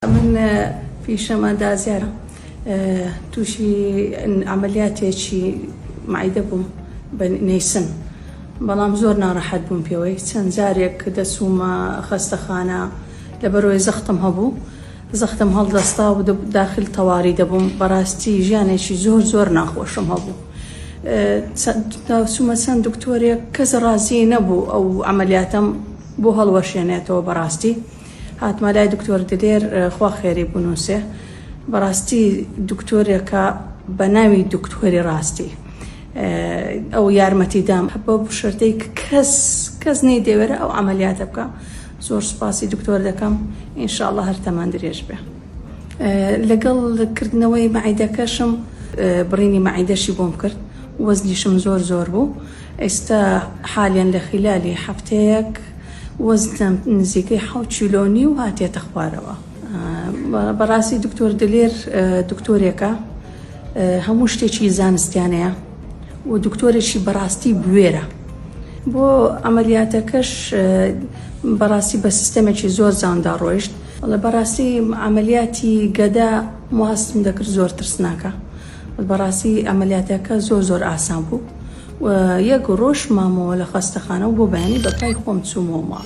من پیشەم ئەندازیارە تووشی ئەمەلیاتێکی معیدە بووم بە نەیسم بەڵام زۆر ناڕەحەت بووم پێوەی چەند جارێک دەچوومە خەستەخانە لەبەرۆی زەختم هەبوو زەختم هەڵدەستا و داخل تەواری دەبووم بەڕاستی ژیانێکی زۆر زۆر ناخۆشم هەبوو چوومە چەند دکتۆرێک کەس ڕازی نەبوو ئەو ئەمەلیاتم بۆ هەڵوەشێنێتەوە بەڕاستی هاتمە لای دکتۆر دلێر خوا خێری بنوسێ بەڕاستی دکتۆرێکە بەناوی دکتۆری ڕاستی ئەو یارمەتی دام بە بشردەی کەس کەس نەی دەوێرە ئەو عملیاتە بکە زۆر سپاسی دکتۆر دەکەم ئینشاءله هەر تەمان درێژ بێ لەگەڵ کردنەوەی مەعیدەکەشم بڕینی مەعیدەشی بۆم کرد وەزنیشم زۆر زۆر بوو ئێستا حالیەن لە خیلالی هەفتەیەک وەزنم نزیکەی حەوت کیلۆو نیو هاتیەتە خوارەوە بەڕاستی دکتۆر دلێر دکتۆرێکە هەموو شتێکی زانستیانەیە و دکتۆرێکی بەڕاستی بوێرە بۆ ئەمەلیاتەکەش بەڕاستی بە سیستەمێکی زۆر جاندا ڕۆیشت بەڕاستی ئەمەلیاتی گەدە مواستم دەکرد زۆر ترسناکە بەڕاستی ئەمەلیاتەکە زۆر زۆر ئاسان بوو و یەک ڕۆژ مامەوە لە خەستەخانە و بۆ بەیانی بە پای خۆم چوومەوە ماڵ.